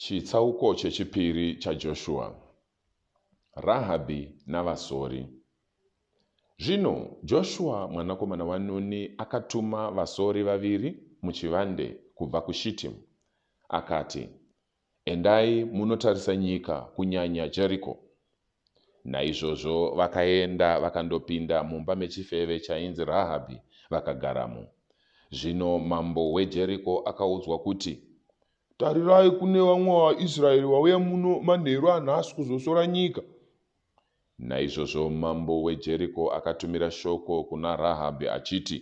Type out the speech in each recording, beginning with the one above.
Chitsauko chechipiri chaJoshua. Rahabhi navasori. Zvino Joshua mwanakomana waNuni akatuma vasori vaviri muchivande kubva kuShitimu, akati, Endai munotarisa nyika, kunyanya Jeriko. Naizvozvo vakaenda vakandopinda mumba mechifeve chainzi Rahabhi, vakagaramo. Zvino mambo weJeriko akaudzwa kuti, Tarirai, kune vamwe vaIsraeri vauya muno manheru anhasi kuzosora nyika. Naizvozvo mambo weJeriko akatumira shoko kuna Rahabhi achiti,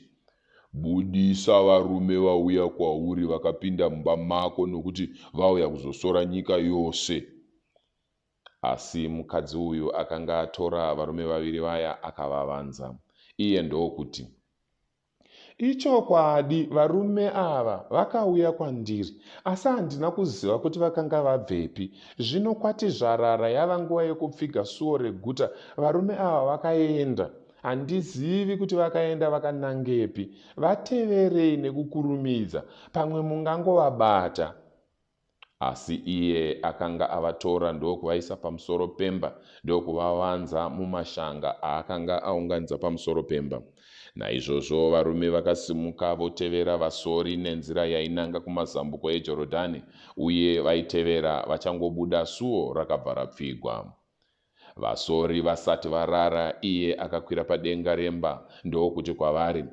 Budisa varume vauya kwauri vakapinda mumba mako nokuti vauya kuzosora nyika yose. Asi mukadzi uyu akanga atora varume vaviri vaya akavavanza. Iye ndokuti, Ichokwadi varume ava vakauya kwandiri asi handina kuziva kuti vakanga vabvepi. Zvino kwati zvarara yava nguva yekupfiga suo reguta varume ava vakaenda. Handizivi kuti vakaenda vakanangepi. Vateverei nekukurumidza pamwe mungangovabata. Asi iye akanga avatora ndokuvaisa pamusoro pemba ndokuvavanza mumashanga aakanga aunganidza pamusoro pemba. Naizvozvo varume vakasimuka votevera vasori nenzira yainanga kumazambuko eJorodhani, uye vaitevera vachangobuda suo rakabva rapfigwa. Vasori vasati varara, iye akakwira padenga remba ndokuti kwavari,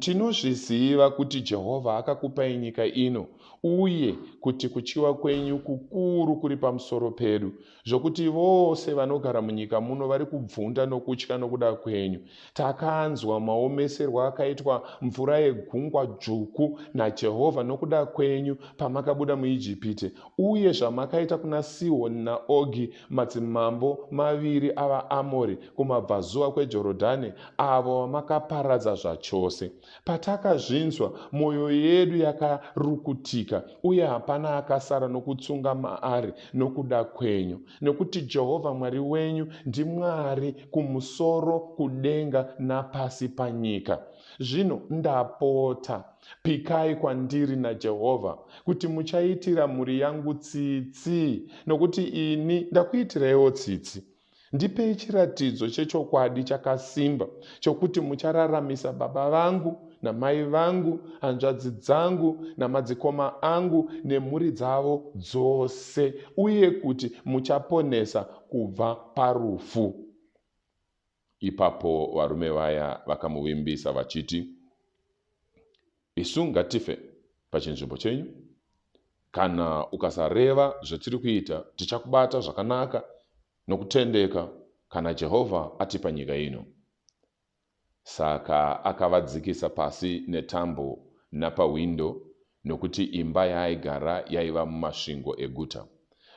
Tinozviziva kuti Jehovha akakupai nyika ino uye kuti kutyiwa kwenyu kukuru kuri pamusoro pedu, zvokuti vose vanogara munyika muno vari kubvunda nokutya nokuda kwenyu. Takanzwa maomeserwo akaitwa mvura yegungwa dzvuku naJehovha nokuda kwenyu pamakabuda muIjipiti, uye zvamakaita kuna Sihoni naOgi, madzimambo maviri avaAmori, kumabvazuva kweJorodhani, avo vamakaparadza zvachose. Patakazvinzwa, mwoyo yedu yakarukutika, uye hapana akasara nokutsunga maari nokuda kwenyu, nokuti Jehovha Mwari wenyu ndiMwari kumusoro kudenga napasi panyika. Zvino ndapota, pikai kwandiri naJehovha kuti muchaitira mhuri yangu tsitsi, nokuti ini ndakuitiraiwo tsitsi. Ndipei chiratidzo chechokwadi chakasimba chokuti muchararamisa baba vangu namai vangu, hanzvadzi dzangu namadzikoma angu nemhuri dzavo dzose, uye kuti muchaponesa kubva parufu. Ipapo varume vaya vakamuvimbisa vachiti, Isu ngatife pachinzvimbo chenyu. Kana ukasareva zvatiri kuita, tichakubata zvakanaka nokutendeka kana Jehovha atipa nyika ino. Saka akavadzikisa pasi netambo napahwindo, nokuti imba yaaigara yaiva mumasvingo eguta.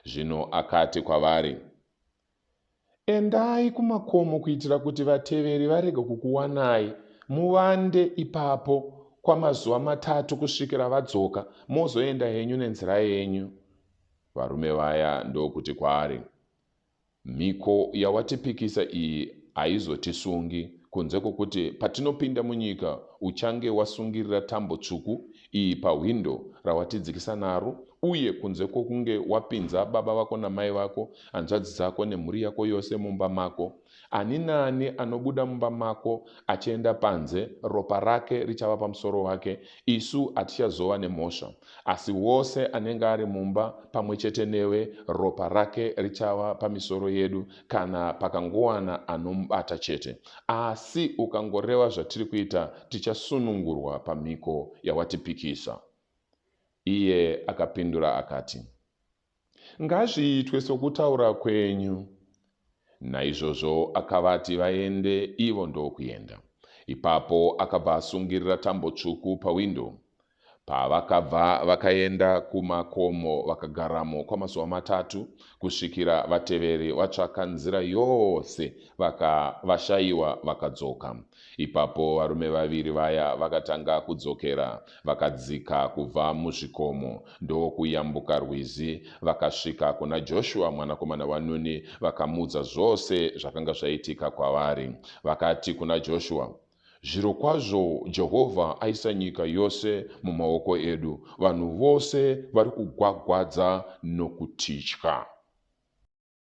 Zvino akati kwavari, Endai kumakomo kuitira kuti vateveri varege kukuwanai, muvande ipapo kwamazuva matatu kusvikira vadzoka, mozoenda henyu nenzira yenyu. Varume vaya ndokuti kwaari, Mhiko yawatipikisa iyi haizotisungi, kunze kwokuti patinopinda munyika uchange wasungirira tambo tsvuku iyi pahwindo rawatidzikisa naro, uye kunze kwokunge wapinza baba vako namai vako hanzvadzi dzako nemhuri yako yose mumba mako. Ani naani anobuda mumba mako achienda panze, ropa rake richava pamusoro wake, isu hatichazova nemhosva. Asi wose anenge ari mumba pamwe chete newe, ropa rake richava pamisoro yedu, kana pakangowana anomubata chete. Asi ukangoreva zvatiri kuita, tichasunungurwa pamhiko yawatipikisa. Iye akapindura akati, Ngazviitwe sokutaura kwenyu. Naizvozvo akavati vaende, ivo ndokuenda. Ipapo akabva asungirira tambo tsvuku pawindo. Pavakabva vakaenda kumakomo vakagaramo kwamazuva matatu, kusvikira vateveri vatsvaka nzira yose vakavashaiwa vakadzoka. Ipapo varume vaviri vaya vakatanga kudzokera, vakadzika kubva muzvikomo ndokuyambuka rwizi, vakasvika kuna Joshua mwanakomana waNuni vakamuudza zvose zvakanga zvaitika kwavari. Vakati kuna Joshua, Zvirokwazvo Jehovha aisa nyika yose mumaoko edu, vanhu vose vari kugwagwadza nokutitya.